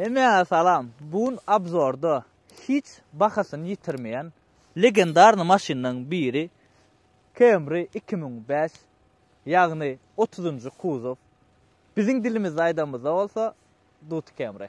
Hemmäňe salam! Bu gün obzorda hiç bahasyny ýitirmeýän legendarny maşynlaryň biri Camry iki müň bäş, ýagny otuzynjy kuzow, biziň dilimizde aýdamyzda bolsa Duty Camry.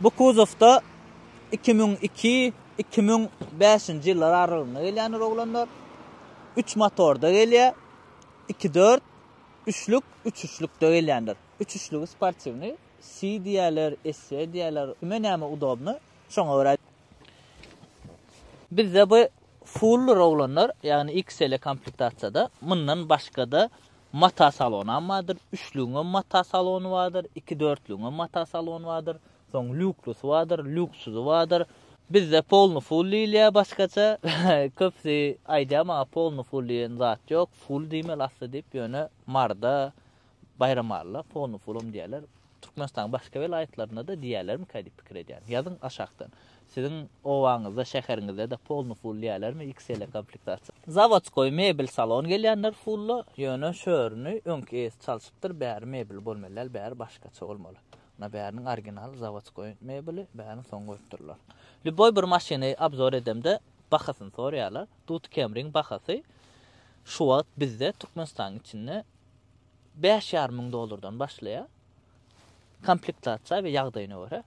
Bu kuzowda iki müň iki, iki müň bäşinji ýyllar aralygynda gelýän Rowlandlar. Üç motorda gelýär. Iki dört, üçlük, üç üçlükde gelýändir. Üç üçlügi sportiwnyý, si diýerler, esse diýerler, kime näme udobny, şoňa görä. Bizde bu full Rowlandlar, ýagny XL-e komplektasiýada, mundan başga-da, Mata salonam bardyr, üçlügiňem mata salony bardyr, iki dörtlügiňem mata salony bardyr, soň lýuklusy bardyr, lýuksuzy bardyr. Bizde polny full diýilýär başgaça, köpüsi aýdýar maňa polny full diýen zat ýok, full diýmeli asly diýip, ýöne Maryda, Baýramalyda polny fullam diýerler. Türkmenistanyň başga welaýatlarynda-da diýerlermikä diýip pikir edýän. Ýazyň aşakdan. Siziň obaňyzda, şäheriňizde-de polny ful diýerlermi XL-e komplektasiýa? Zawodskoý mebel salon gelýänler fulla, ýöne şörini öňki eýesi çalşypdyr, bäri mebel bolmaly däl, bäri başgaça bolmaly. Ynha bäriniň originaly zawodskoý mebeli, bärini soň goýupdyrlar. Lýuboý bir maşyny obzor edemde bahasyny soraýarlar. Dut Camry-ň bahasy şu wagt bizde Türkmenistanyň içinde Bäş ýarym müň dollardan başlaýar. Komplektasiýa we ýagdaýyna görä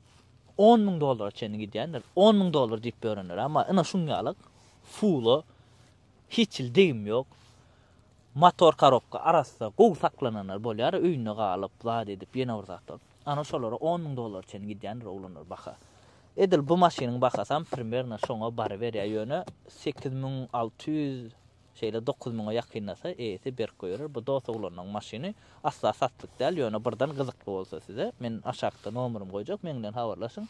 on müň dollara çenli gidýändir. On müň dollar diýip börenler, amma ina şuň ýalyk fulo hiç hil degim ýok. Motor korobka arassa gowy saklananlar bolýar, öýünde galyp, zat edip, ýene bir zatlar. Ana şolara on müň dollara çenli gidýändir oglanlar baha. Edil bu maşynyň bahasam primerno şoňa baryberýär, ýöne sekiz müň alty ýüz Şeýle dokuz müňe ýakynlasa, eýesi berk goýberer. Bu dos oglanlaň maşyny. Asla satlyk däl, ýöne birden gyzykly bolsa size, men aşakda nomerimi goýjak, meň bilen habarlaşyň.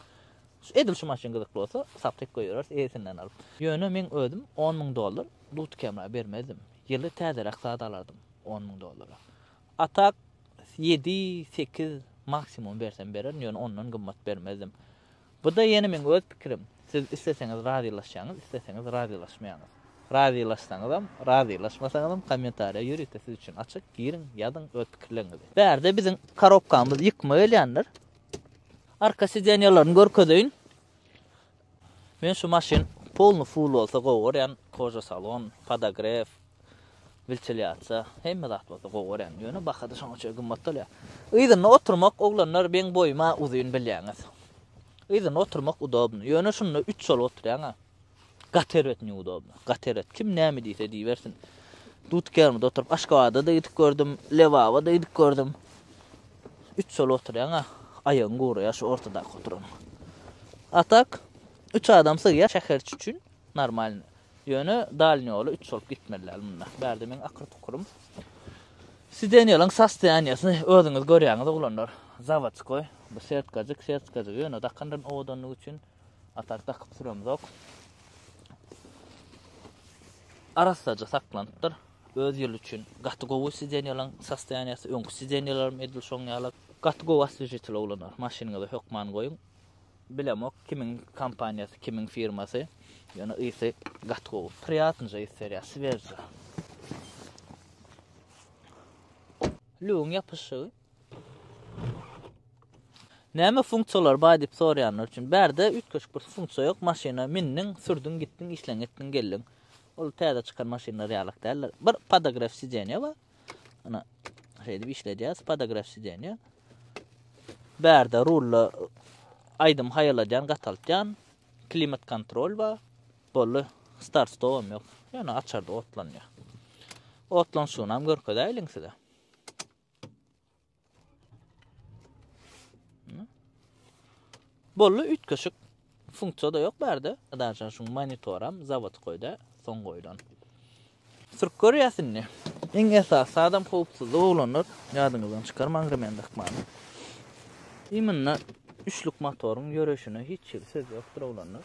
Edil şu maşyn gyzykly bolsa, satlyk goýbereris, eýesinden alyp. Ýöne meň özüm on müň dollar dut kemra bermezdim. Ýyly täzeräk zat alardym on müň dollara. A tak, ýedi, sekiz, maksimum bersem bererin, ýöne ondan gymmat bermezdim. Bu-da ýene meň öz pikirim. Siz isleseňiz razylaşýaňyz, isleseňiz razylaşmaýaňyz. Razylaşsaňyzam, razylaşmasaňyzam kommentariýa ýörite siz üçin açyk, giriň, ýazyň öz pikirleriňizi. Bärde biziň korobkamyz ýykma gelýänler. Arka sidenýalaryny görkezeýin. Men şu maşyn polny full bolsa gowy görýän, koža salon, podogref, Bilçil ýatsa, hemme zat bolsa gowy görýän. Ýöne baha-da şoňa çenli gymmat bolýar. Yzynda oturmak, oglanlar, meň boýum-a uzyn bilýäňiz. Yzynda oturmak udobny. Ýöne şunda üç bolup oturýaň-a. Gaty erbet neudobno. Gaty erbet. Kim näme diýse diýibersin. Dudkermide oturyp, Aşgabada-da gidip gördüm, Lebaba-da gidip gördüm. Üç bolup oturýaň-a. Aýagyň guraýar şu ortadaky oturanyň. A tak, üç adam sygýar şäherçi üçin normalny. Ýöne dalni ýoly üç bolup gitmeli däl munda. Bärde meň akyr tukurym. Sidenýalyň sostoýaniýasyny özüňiz görýäňiz oglanlar. Zawodskoý. Bu setkajyk, setkajyk. Ýöne dakandan owadanlyk üçin a tak dakyp süremzok. Arassaja saklanypdyr. Öz ýyly üçin gaty gowy sidenýalyň sostoýaniýasy. Öňki sidenýalarym edil şoň ýaly. Gaty gowy oswežitel oglanlar. Maşynyňyza hökman goýuň. Bilemok kimiň kompaniýasy kimiň firmasy ýöne ysy gaty gowy priýatnyja ys berýär swežja. Lüwiň ýapyşygy. Näme funksiýalar bar diýip soraýanlar üçin bärde üýtgeşik bir funksiýa ýok maşyna mindiň sürdüň gitdiň işleň etdiň geldiň ol täze çykan maşynlar ýalak däldir bir podogref sidenýe bar Ana şeýdip işledýäs podograf sideniýa. Bärde rulda aýdym haýaladýan, gataltýan, klimat kontrol bar. Boldy. Start stop hem ýok. Ýöne açarda otlanýar. Otlanşygyny hem görkezäýliň size. Bolly üýtgeşik funksiýada ýok bärde. Daşa şu monitoram zawod goýda, soň goýlan. Sürüp görýäs indi. Iň esasy adam howpsuzlyk oglanlar, ýadyňyzdan çykarmaň remende hykmany. Imynda üçlük motoryň ýörüşine hiç hili söz ýokdur oglanlar.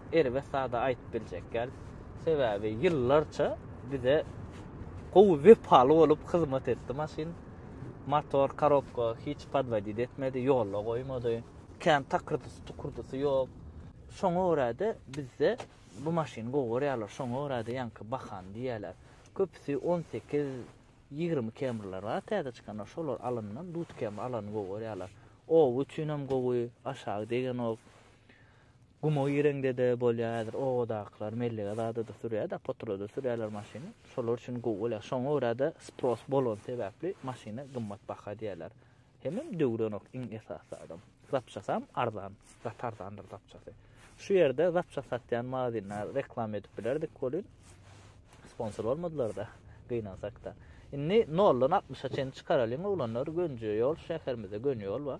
erbet zada aýdyp biljek däl. Sebäbi ýyllarça bize gowy wepaly bolup hyzmat etdi maşyn. Motor, korobka hiç podwodit etmedi, ýolda goýmady. Kän takyrdysy, tukurdysy ýok. Şoňa görä-de bizde bu maşyny gowy görýärler, şoňa görä-de ýaňky bahany diýýärler. Köpüsi on sekiz, ýigrimi Camry-ler bar täze çykanlar, şolar alyndan duz Camry alany gowy görýärler. Oba üçinem gowy, aşagy degenok. Guma gireňde-de bolýar häzir obadakylar mellege zada-da sürýär-de, potura-da sürýärler maşyny. Şolar üçin gowy bolýar. Şoňa görä-de spros bolany sebäpli maşyna gymmat baha diýýärler. Hemem döwürenok iň esasy adam. Zapçasam arzan, gaty arzandyr zapçasy. Şu ýerde zapças satýan magazinleri reklama edip bilerdik welin, sponsor bolmadylar-da, gynansak-da. Indi noldan altmyşa çenli çykaralyň oglanlar, Gönüje ýol, şäherimizde göni ýol bar.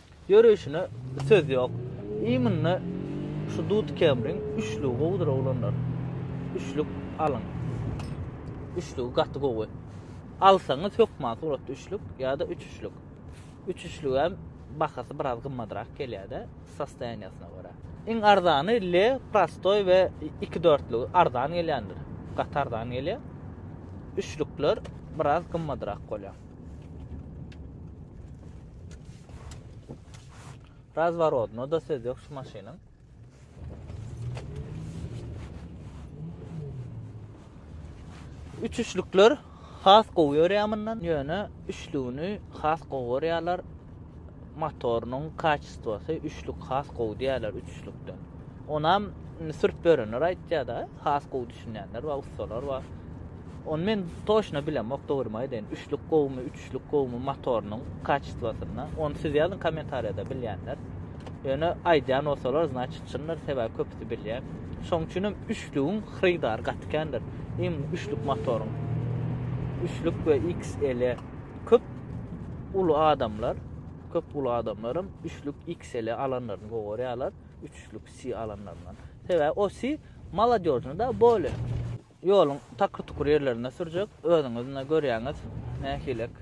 Ýörüşine söz ýok. Imynda şu dud kemriň üçlügi gowudyr oglanlar. Üçlük alyň. Üçlügi gaty gowy. Alsaňyz hökman suratda üçlük ýa-da üç üçlük. Üç üçlügem bahasy biraz gymmadrak gelýär-de, sostoýaniýasyna görä. Iň arzany L prostoý we iki dörtlügi arzan gelýändir. Gaty arzan gelýär. Üçlükler biraz gymmadrak bolýar. Razworodnoda söz ýok şu maşynyň. Üçüşlikler has gowy ýörýär mundan. Ýöne üçlügini has gowy görýärler. Motorynyň kaçistwasy üçlük has gowy diýýärler üçlükden. Onam sürüp görenler aýtýar-da, has gowy düşünýänler we ussalar we Onu men toşna bilemok, dogrymy aýdaýyn. Üçlük gowumy, üç üçlük gowumy motorynyň kaçestwasynda ony siz ýazyň kommentariýada bilýänler ýöne aýdýan bolsalar znaçit çyndyr sebäbi köpüsi bilýär şoň üçinem üçlügiň hyrydary gaty kändir iň üçlük motoryň üçlük we XL köp uly adamlar köp uly adamlarym üçlük XL alanlaryny gowarýarlar üçlük si alanlaryndan sebäbi o si maladýožnyda bole. Ýoluň takyr-tukur ýerlerinde sürjek, özüňiz ine görýäňiz, nähilek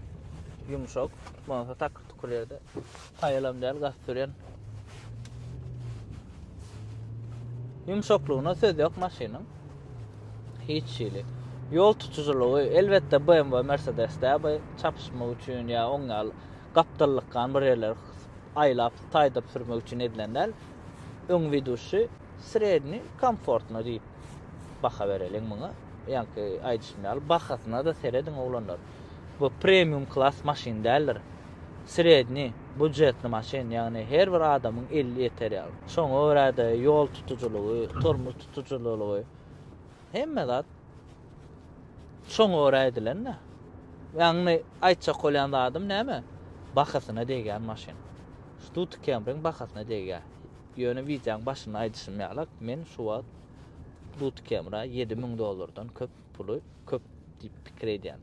ýumşak, bolsa takyr-tukur ýerde haýalam däl gaty sürýän. Ýumşaklygyna söz ýok maşynyň. Hiç hili. Ýol tutujylygy, elbetde, BMW, Mercedes-de bu çapyşmak üçin ýa oň ýaly gapdallykgan bir ýerleri aýlap, taýdyryp sürmek üçin edilen däl. Öň widuşy. Sredniý, komfortno diýip baha bereliň muňa. Ýaňky aýdyşym ýaly bahasyna-da serediň oglanlar. Bu premium klas maşyn däldir. Sredniý, budjetny maşyn, ýagny her bir adamyň eli ýeter ýaly. Şoňa görä-de ýol tutujylygy, tormoz tutujylylygy, hemme zat şoňa görä edilen-dä. Ýagny aýtjak bolýan zadym näme? Bahasyna degýän maşyn. Stuti Camry-ň bahasyna degýär. Ýöne wideoň başynda aýdyşym ýalak, men şu wagt Dutkeemra ýedi müň dollardan köp puly köp diýip pikir edýän.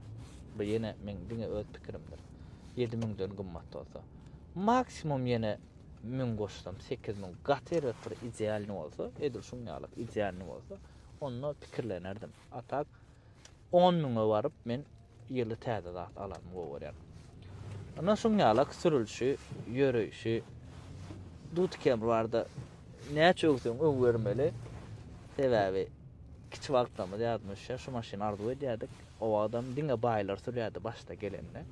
Bu ýene meň diňe öz pikirimdir. Ýedi müňden gymmat bolsa. Maksimum ýene müň goşsam, sekiz müň. Gaty erbet bir idealnyý bolsa, edil şuň ýalak idealnyý bolsa, onda pikirlenerdim. A tak, On müňe baryp men ýyly täze zat alanymy gowy görýän. Ynha şuň ýalak sürülişi, ýöreýşi. Dut kemi barda näçe öwseň öw bermeli. Sebäbi kiçi wagtlarymyz ýadyma düşýär, şu maşyny arzuw edýärdik. O wagtam diňe baýlar sürýärdi başda gelende.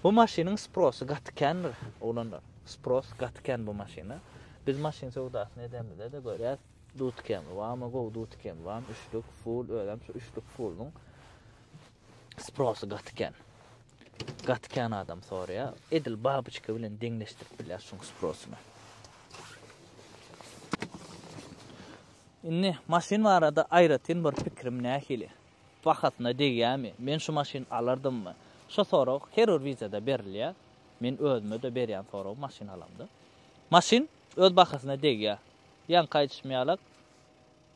Bu maşynyň sprosy gaty kändir, oglanlar. Spros gaty kän bu maşyna. Biz maşyn söwdasyny edemizde-de görýäs. Dutkem, wama gowy dutkem, wam üçlük, full özem şu üçlük pulunyň sprosy gaty kän. Gaty kän adam soraýar. Edil babuçka bilen deňleşdirip bilýär şuň sprosyny. Indi maşyn barada aýratyn bir pikirim nähili? Bahasyna degýärmi? Men şu maşyn alardymmy? Şu sorag her bir wideoda berilýär. Men özüme-de berýän sorag maşyn alamda. Maşyn öz bahasyna degýär. Ýaňky aýdyşym ýalak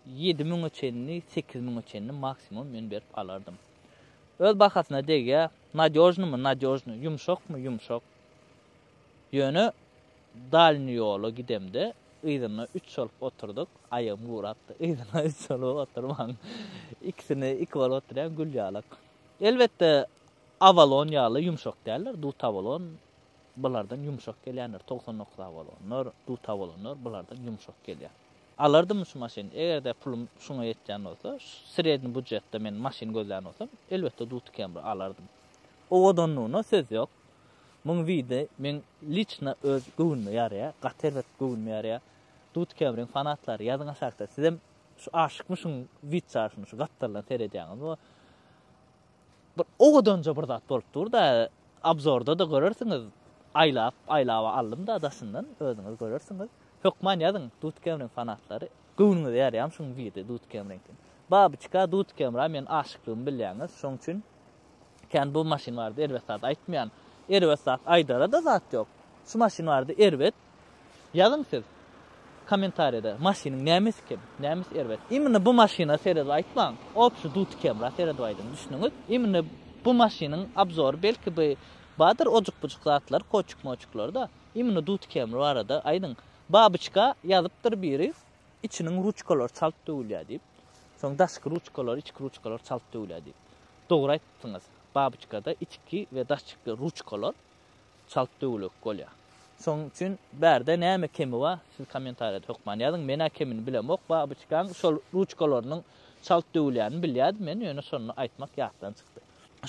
ýedi müňe çenli, sekiz müňe çenli maksimum men berip alardym. Öz bahasyna degýä, nadýožnymy, nadýožny, ýumşakmy, ýumşak. Ýöne dalni ýola gidemde yzyna üç bolup oturdyk, aýagym gurapdy, yzyna üç bolup oturman, ikisini iki bolup oturýan gül ýalak. Elbetde, awalon ýaly ýumşak däldir, dutabolon Bulardan ýumşak gelýänler togsan dokuz a bolanlar, dut a bolanlar bulardan ýumşak gelýär. Alardym şu maşyny, eger-de pulum şuňa ýetýän bolsa, sredni budjetde men maşyn gözlän bolsam, elbetde duty Camry alardym. Owadanlygyna söz ýok. Muň widi meň liçna öz göwnüme ýaraýar, gaty erbet göwnüme ýaraýar. Duty Camryň fanatlary ýazyň aşakda sizem şu aşykmy şuň wid çaryşyna şu gapdaldan seredýäňizmi? Bir owadanja bir zat bolup dur-da, obzorda-da görersiňiz, aýlap, aýlaba aldym-da daşyndan, özüňiz görersiňiz. Hökman ýazyň, Dudkemriň fanatlary. Göwnüňize ýarýamy şuň biri Dudkemriňki? Babyçka, Dudkemra meniň aşyklygymy bilýäňiz, şoň üçin kän bu maşyn barada erbet zat aýtmaýan. Erbet zat aýdara-da zat ýok. Şu maşyn barada erbet Ýazyň siz Kommentariýada maşynyň nämesi kem, nämesi erbet. Imini bu maşyna seredip aýtmaň. Opşi duty kemra seredip aýdyň, düşnüňiz? Imini bu maşynyň abzory belki by badyr ojukbujuk zatlar koçuk-moçuklarda. Imini duty kemri barada aýdyň. Babyçka ýazypdyr biri içiniň ruçkalary çalt döwülýä diýip. Soň daşky ruçkalary, içki ruçkalary çalt döwülýä diýip. Dogry aýtdyňyz. Babyçkada içki we daşky ruçkalar Çalt döwlek bolýa. Şoň üçin bärde näme kemi ba siz komentariýada hökman ýazyň menä kemini bilemok babyçkaň şol ruçkalarynyň çalt döwülýänini bilýädim men ýöne şony aýtmak ýatdan çykdy.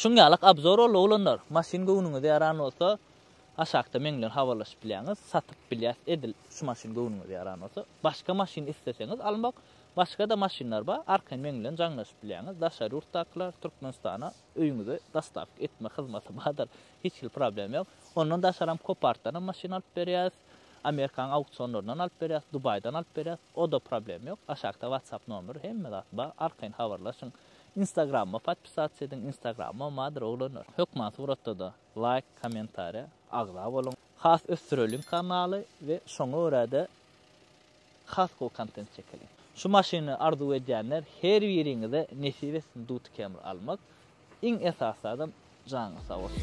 Şuň ýalak abzor boldy oglanlar maşyn göwnüňize ýaran bolsa aşakda meň bilen habarlaşyp bilýäňiz satyp bilýäs edil şu maşyn göwnüňize ýaran bolsa başga maşyn isleseňiz almak başgada maşynlar ba arkaýyn meň bilen jaňlaşyp bilýäňiz daşary ýurtdakylar türkmenistana öýüňize dostawka etme hyzmaty badyr Hiç hili problem ýok. Ondan daşaram kopartdanam maşyn alyp berýäs. Amerikan auksionlaryndan alyp berýäs, Dubaýdan alyp berýäs. Oda problem ýok. Aşakda whatsapp nomer hemme zat bar. Arkaýyn habarlaşyň. Instagramyma podpisats ediň. Instagramym bardyr oglanlar. Hökman suratda-da laýk, kommentariýa, agza boluň. Has ösdüreliň kanaly we şoňa görä-de Haskell kontent çekeliň. Şu maşyny arzuw edýänler her biriňize nesip etsin Duty Camry almak, iň esasy adam janyňyz sag bolsun.